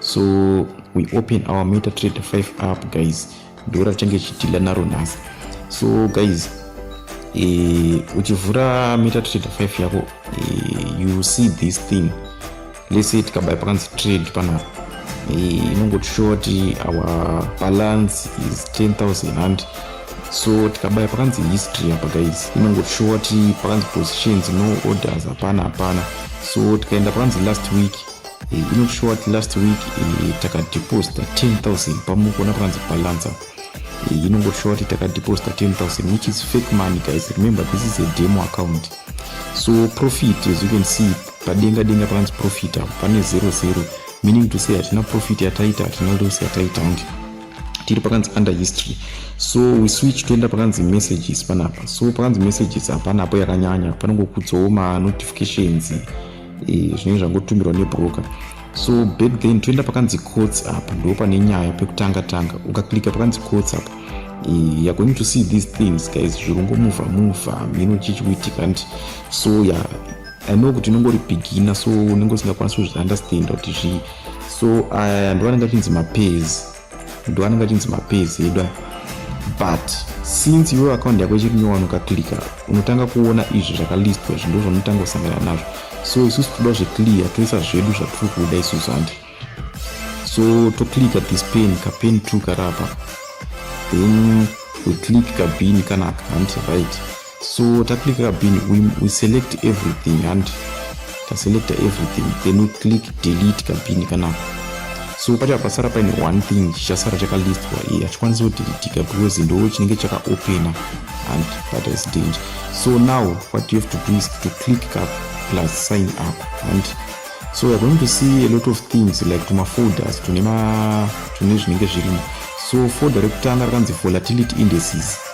so we open our meta trade 5 up guys ndiro ratenge chitila naro nhasi so guys eh, uchivhura meta trade 5 yako eh, you see this thing let's say tikabaya pakanzi trade panapa eh, inongotishowa kuti our balance is 10000 and so tikabaya pakanzi history apa guys inongotishowa kuti pakanzi positions no orders hapana hapana so tikaenda pakanzi last week Eh, inoshuwa kuti last week eh, takadeposita 10000 pamukona panzi balancer eh, inongoshuwa kuti takadeposita 10000 which is fake money guys remember this is a demo account so profit as you can see padenga denga panzi profit apo pane 00 meaning to say hatina profit yataita hatina loss yataita undi tiri pakanzi under history so we switch toenda pakanzi messages panapa so pakanzi messages hapana apo yakanyanya panongokudzawo manotifications eh, zvinenge zvangotumirwa nebroker so back then toenda pakanzi courts apa ndo pane nyaya pekutanga tanga ukaklika pakanzi courts apa eh, you're going to see these things guys zvirungo muvha muvha mino chichikuitika nti so ya yeah, i know kuti inongori bigina so unenge usingakwanisi kuzviunderstanda kuti zvii so aya eh, ndovanenge achinzi mapairs ndoanenge achinzi mapezi edu aya but since iwe akaunti yako ichiri nyowani ukaklika unotanga kuona izvi zvakalistwa izvi ndo zvaunotanga kusangana nazvo so isusu toda zveclear toisa zvedu zvatiri kuda isusu handi so toklika this pen kapen two karapa then we click kabini kanaka handi right so taclicka bin we, we select everything and taselecta everything then we click delete kabin kana so pacha pasara paine one thing chichasara chakalistwa iye hachikwanisi kudeletika because ndo chinenge chakaopena and that is danger so now what you have to do is to click up plus sign up and so weare going to see a lot of things like tumafolders tune tune zvinenge zvirimo so folder rekutanga rakanzi volatility indices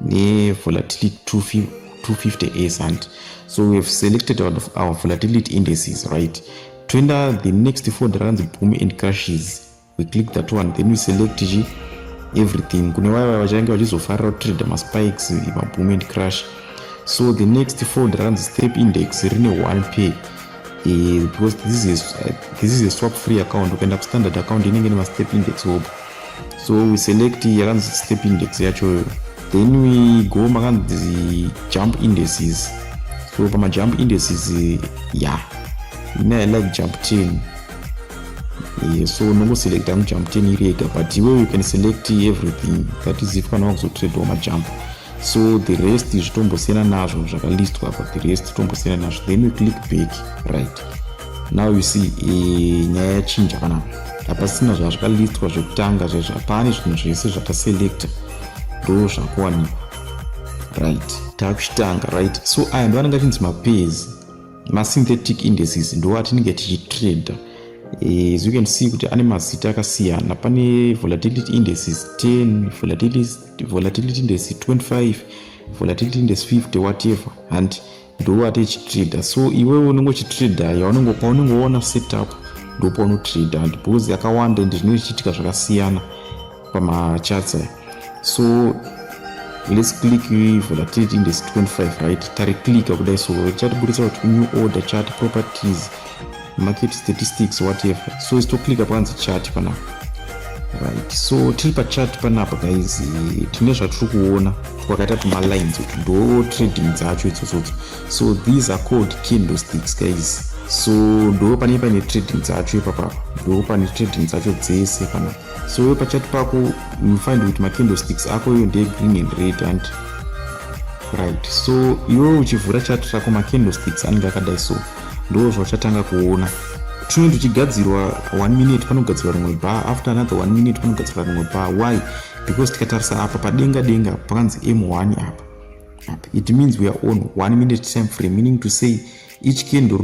nevolatility 250 as and so we have selected our, our volatility indices right toenda the next ford rakanzi boom and crashes we click that one then we select chi everything kune vaya vaya vachange vachizofarira kutrader maspikes maboom and crash so the next ford rakanzi step index rine one pay Eh, because this is, uh, this is a swap free account ukaenda kustandard account inenge nemastep index hope so we select yakanzi step index yachoyo then we go makanzi jump indices so pamajump indices ya yeah. ina i like jump 10 yeah, so nongoselecta mujump 10 iri yega but iwe you can select everything that is if kana wakuzotradewa majump 10 so the rest zvitombosiyana nazvo zvakalistwa apa the rest tombosiyana nazvo then we click back right now you see eh, nyaya yachinja kana hapasina zvazvakalistwa zvekutanga zvezvo hapane zvinhu zvese zvataselecta ndo zvakuwanikwa right takuchitanga right so aya ndo anenge achinzi mapezi masynthetic indices ndo atinenge tichitrader eh, as you can see kuti ane mazita akasiyana pane volatility indices 10 volatility volatility ndesi 25 volatility ndesi 50 whatever and ndoo ati ichitrader so iwewe unenge uchitrader yaunenge paunenge woona setup ndopaunotrader and because yakawanda ende zvinenge zvichiitika zvakasiyana pamachats aya so let's click volatility index 25 right tari clicker kudai so chatiburitsa kuti new order chati properties market statistics whatever so is toclicka panzi chat panapa right so tiri pachat panapa guys tine zvatiri kuona kwakaita tumalines utu ndo trading dzacho idzodzodzo so these are called candlesticks guys so ndo pane pane trading dzacho ipapapa ndo pane trading dzacho dzese panapa so we pachat pako unofind kuti macandlesticks ako iyo ndeye green and red and right so iwe uchivhura chat rako macandlesticks anenge akadai so ndoo zvauchatanga kuona tinenge tichigadzirwa one minute panogadzirwa rimwe bar after another one minute panogadzirwa rimwe bar why because tikatarisa apa padenga denga pakanzi m1 apa apa it means weare on one minute time frame meaning to say each kendo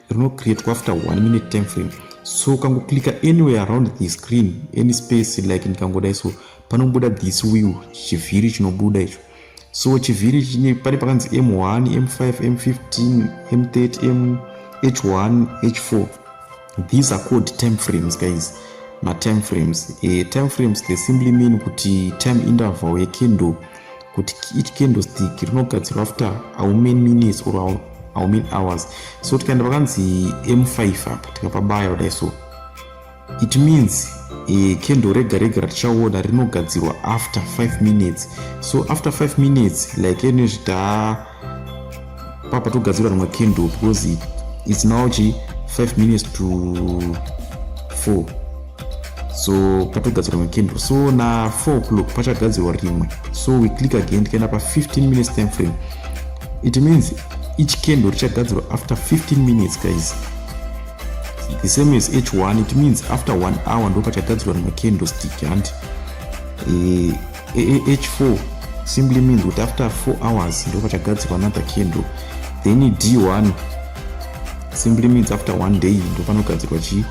rinocreatwa after one minute time frame so ukangoclicka anywhere around the screen any space like ndikangodai so panobuda this wheel chivhiri chinobuda icho so chivhiri chine pane pakanzi m1 m5 m15 m30 mh1 h4 these are called time frames guys matime frames uh, eh, time frames they simply mean kuti time interval yekendo kuti each kendo stick rinogadzirwa after how many minutes or how, how many hours so tikaenda pakanzi m5 apa tikapabaya kudai so It means eh, candle rega rega ratichaona rinogadzirwa after 5 minutes so after 5 minutes like ene zvita papa togadzira rimwe candle because it, it's now chi 5 minutes to 4 so patogadzira rimwe candle so na 4 o'clock pachagadzirwa rimwe so we click again tikaenda pa 15 minutes time frame it means each candle richagadzirwa after 15 minutes guys the same as h1 it means after one hour ndopachatadzirwa nemacandlestick hanti eh, eh, eh, h4 simply means kuti after four hours ndopachagadzirwa another candle then d1 simply means after one day ndopanogadzirwa chi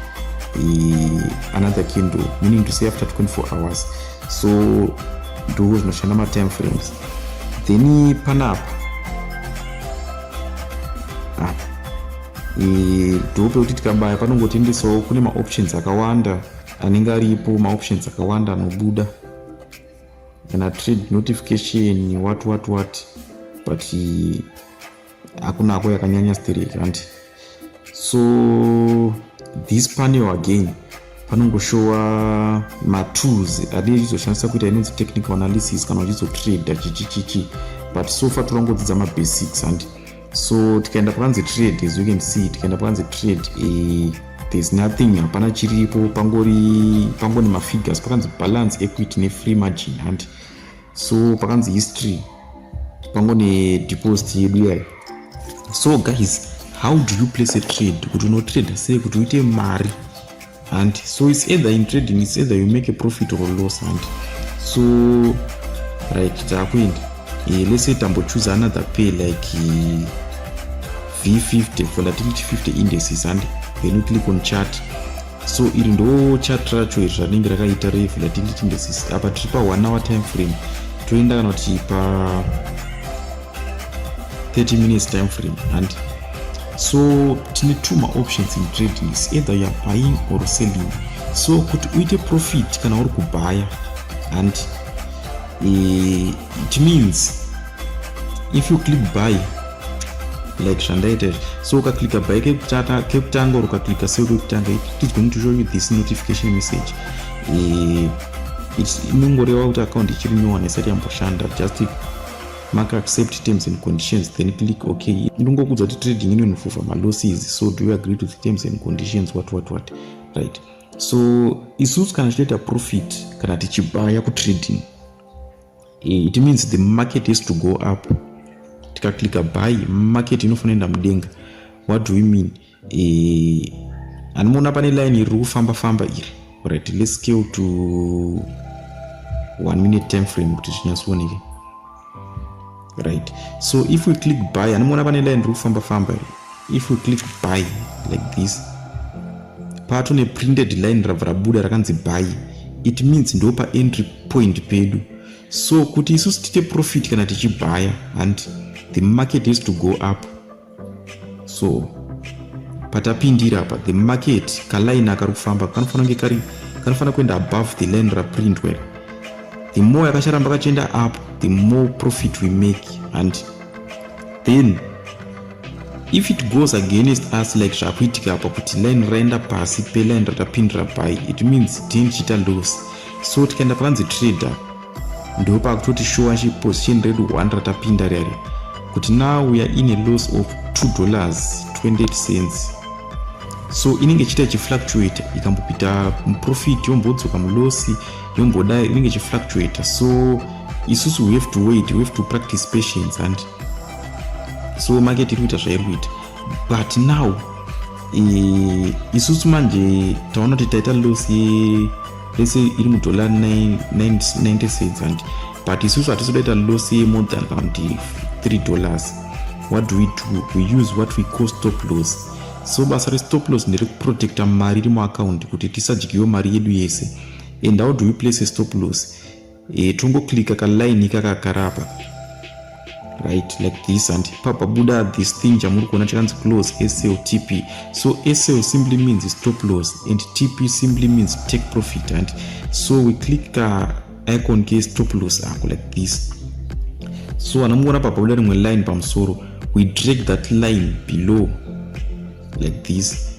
another candle meaning to say after 24 hours so ndo zvinoshanda matime frames then panapa ndope kuti tikabaya panongotendesawo kune maoptions akawanda anenge aripo maoptions akawanda anobuda kana trade notification what what what but hakuna ako yakanyanya straight hanti so this panel again panongoshowa matools adii achizoshandisa kuita inonzi technical analysis kana uchizotrader chichichichi but so far torangodzidza mabasics hanti so tikaenda pakanzi trade as you can see tikaenda pakanzi trade eh, there's nothing hapana chiripo pangori pangoni mafigures pakanzi balance equity nefree margin handi so pakanzi history pangone deposit yedu iyayo so guys how do you place a trade kuti unotrader sei kuti uite mari hanti so its either in trading its either you make a profit or loss hanti so right taakuenda e, eh, lese tambochuse another pay like eh, v50 volatility 50 indices hanti then you click on chart so iri ndo chart racho iri ranenge rakaita revolatility indices apa tiri pa one hour time frame toenda kana kuti pa 30 minutes time frame and so tine two maoptions in trading is either youare buying or selling so kuti uite profit kana uri kubhaya and uh, it means if you click buy like zvandaita so ukaclicka buy kekutanga or ukaclicka seo kekutanga it is going to show you this notification message eh, inongoreva kuti account ichiri nyowani isati yamboshanda just maka accept terms and conditions then click ok ndongokudza kuti trading inonofufa malosses so do you agree to the terms and conditions what what what right so isusu kana tichitoita profit kana tichibaya kutrading eh, it means the market has to go up tikaclicka buy market inofanira enda mudenga what do we mean e, anomuona pane line iri kufamba famba iri right let's scale to one minute time frame kuti zvinyatsooneke right so if we click buy anomuona pane line iri kufamba famba iri if we click buy like this pato neprinted line rabva rabuda rakanzi buy it means ndo paentry point pedu so kuti isusu tiite profit kana tichibhaya hanti the market has to go up so patapindira apa the market kaline akari kufamba kanofanira kunge kari kanofanira kuenda above the line raprintwa iri the more yakacharamba kachienda up the more profit we make and then if it goes against us like zvakuitika apa kuti line raenda pasi peline ratapindira by it means tine chiita loss so tikaenda panzi trader ndo pakutoti shuwa shi position redu 1 ratapinda riya riya kuti now we are in a loss of 2 dollars 28 cents so inenge ichiita ichifluctuate ikambopita muprofit yombodzoka mulosi yombodai inenge ichifluctuate so isusu we have to wait we have to practice patience and so market iri kuita zvairi kuita but now e, isusu manje taona kuti taita loss ye let's say iri mudollar 90 cents and but isusu hatisi kudaita loss yemore than kana kuti 3 dollars what do we do we use what we call stop loss so basa restop loss nderekuprotecta mari iri muaccount kuti tisadyiwe mari yedu yese and how do we place a stop loss e, tongoclicka kaline ikaka kagara apa right like this and papa buda this thing chamuri kuona chakanzi close sltp so sl simply means stop loss and tp simply means take profit and so we click ka icon ke stop loss ako like this so anamuona papa buda rimwe line pamusoro we drag that line below like this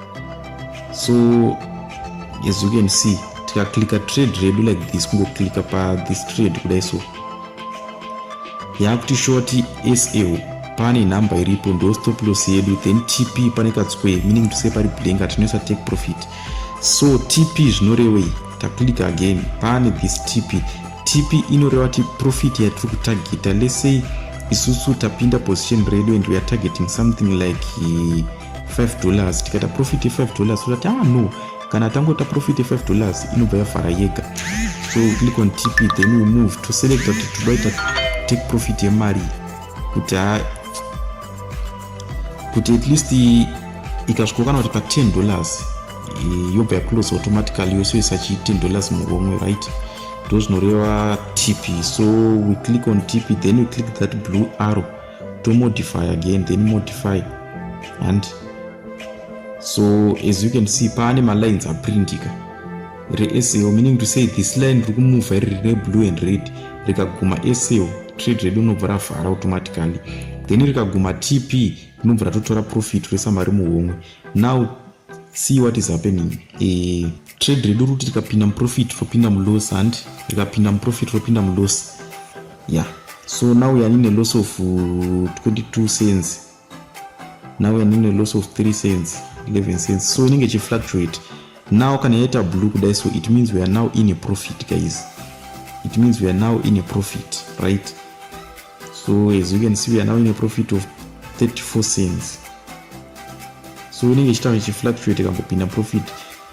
so as you can see tikaklicka trade redu like this kungoklicka pathis trade kudai so yaakuti shoti sl pane number iripo ndo stop loss yedu then tp pane katsquare meaning to say pari blank hatinoisa take profit so tp zvinorewei taklicka again pane this tp tp inoreva kuti profit yatiri kutargeta lesay isusu tapinda position redu and weare targeting something like uh, 5 dollars tikaita profit ye 5 dollars so that ah no kana tangoita profit ye 5 dollars inobva yafara yega so we click on tp then we move to select that tobaita take profit yemari kuti ha kuti at least ikasvikokana kuti pa 10 dollars eh, yobva yaclose automatically yose isachi 10 dollars muromwe right ndozvinoreva tp so we click on tp then we click that blue arrow to modify again then modify and so as you can see paane malines aprintika reasl meaning to say this line riri kumuvha iri rine blue and red rikaguma asl trade redu rinobva ravhara automatically then rikaguma tp rinobva ratotora profit resamari muhomwe now see what is happening eh, trade redu ruti rikapinda muprofit ropinda muloss handi rikapinda muprofit ropinda muloss ya yeah. so now yani neloss of 22 uh, cents now yani neloss of 3 cents 11 cents so inenge ichifluctuate now kana yaita blue kudai so it means we are now in a profit guys it means we are now in a profit right so as you can see we are now in a profit of 34 cents so inenge ichitaura ichifluctuate kambopinda profit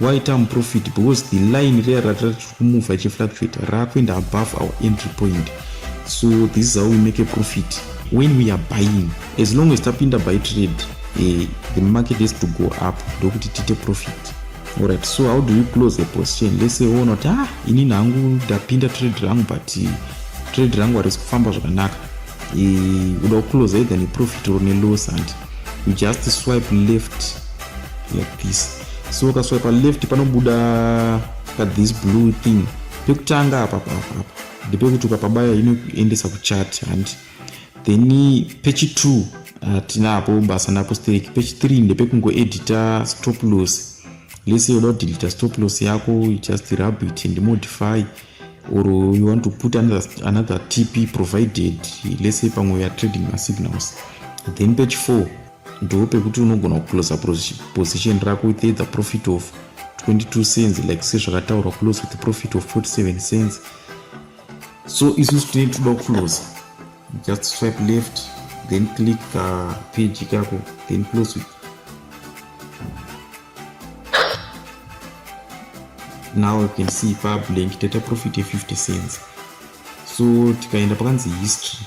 why term profit because the line reya ratira tiri kumuvha ichifluctuate raakuenda above our entry point so this is how we make a profit when we are buying as long as tapinda by trade eh, the market has to go up ndokuti tiite profit Alright, so how do you close a position? Let's say woona kuti ah, ini nangu ndapinda trade rangu but trade rangu harisi kufamba zvakanaka. Uda kuclose either neprofit or neloss and you just swipe left like this. So ukaswipe left panobuda ka this blue thing. Pekutanga apa apa apa. Ndepekuti ukapabaya inoendesa kuchat and then pechi 2 hatinapo ah, basa naapostolic pechi 3 ndepekungoedita stop loss lese yoda kudelita stop loss yako you just rub it and modify or you want to put another, another tp provided lese pamwe ya trading masignals then page 4 ndo pekuti unogona kuclosa position rako with either profit of 22 cents like sezvakataurwa close with profit of 47 cents so isusu tinenge toda kuclose just swipe left then click uh, page kako then close it now you can see pa blank tata profit ye 50 cents so tikaenda pakanzi history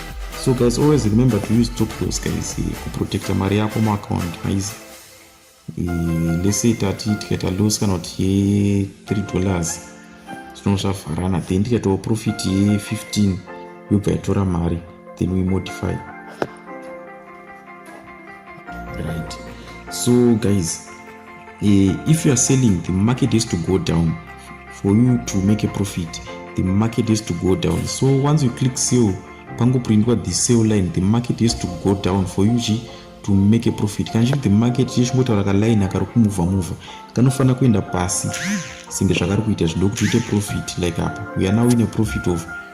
so guys always remember to use top loss guys eh, kuprotecta mari yako muaccount maizi eh, lese tati tikaita loss kana kuti ye 3 dollars zvinova zvavharana then tikaitawo profit ye 15 yobva yatora mari then we modify right so guys Eh, if you are selling the market has to go down for you to make a profit the market has to go down so once you click sale pangoprindwa the sale line the market has to go down for you chi to make a profit kana chiri the market chiye chingotaura kaline akari kumuvha muvha kanofanira kuenda pasi senge zvakari kuita zvido kuti uite profit like apa we are now in a profit of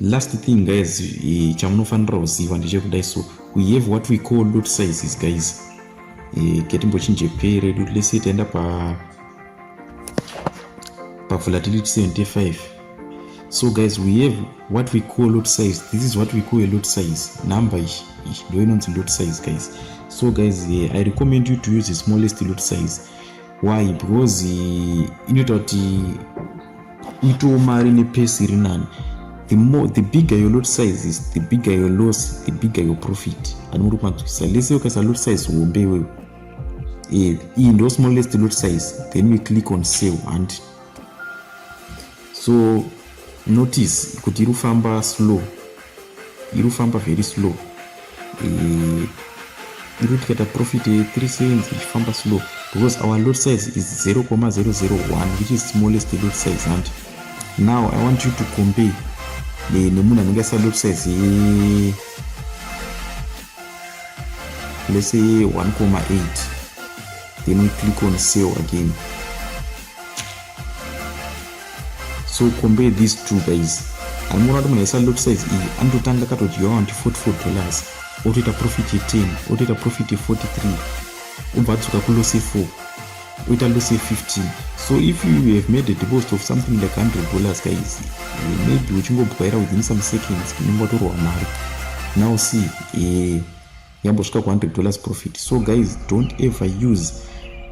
last thing guys e, chamunofanira kuziva ndechekudai so we have what we call lot sizes guys e, ketimbochinje pay redu lese taenda pa pavolatility 75 so guys we have what we call lot size this is what we call a lot size number iyi ndo inonzi lot size guys so guys e, i recommend you to use the smallest lot size why because inoita kuti itawo mari nepesi iri nani the more the bigger your lot size is the bigger your loss the bigger your profit anongori kumanzwisisa lese ukaisa lot size hombe iwewe eh, iyi ndo smallest lot size then we click on sale and so notice kuti iri kufamba slow iri kufamba very slow eh, iri kuti kaita profit ye 3 cents ichifamba slow because our lot size is 0,001 which is smallest lot size hanti now i want you to compare eh, nemunhu anenge asina lot size ye lese ye 1,8 then we click on sell again so compare these two guys anoona kuti munhu aisa lot size iyi anototanga katodyiwa wanti 44 dollars otoita profit 10 otoita profit 43 obva adzoka kulose 4 oita lose 15 so if you have made a deposit of something like 100 dollars guys maybe uchingobwaira within some seconds unenge watorwa mari now see eh, yambosvika ku 100 dollars profit so guys don't ever use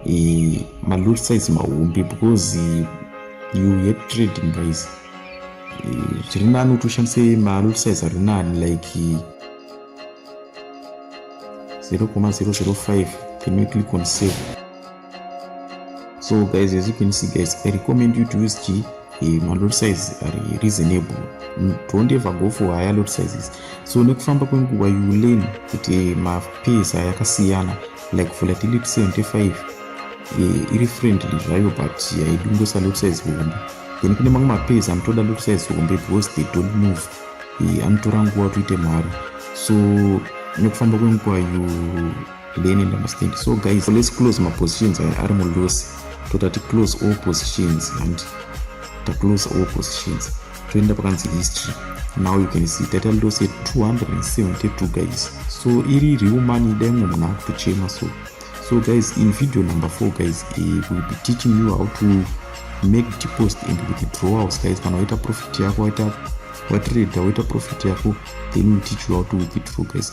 uh, malot size mahombe because uh, you yet trading guys eh, zviri uh, nani kuti ushandise malot size ari nani like uh, 0,005 can you click on save so guys as you can see guys i recommend you to use g eh, malot size are reasonable mm, don't ever go for higher lot sizes so nekufamba kwenguva you learn kuti eh, mapesa yakasiyana like volatility 75 eh, iri friendly zvayo but yaidungosa lot size hombe then kune mamwe mapesa anotoda lot size hombe because they don't move anotora nguva toite mari so nekufamba kwenguva you leni ndamustand so guys let's close mapositions aya ari mulosi toita ticlose all positions and taclose all positions toenda pakanzi history now you can see taita lose 272 guys so iri riwo mani dai mwe munhu akutochema so so guys in video number four guys uh, will be teaching you how to make deposit and withdrawals guys kana waita profit yako waita watrade waita profit yako then will teach you how to withdraw guys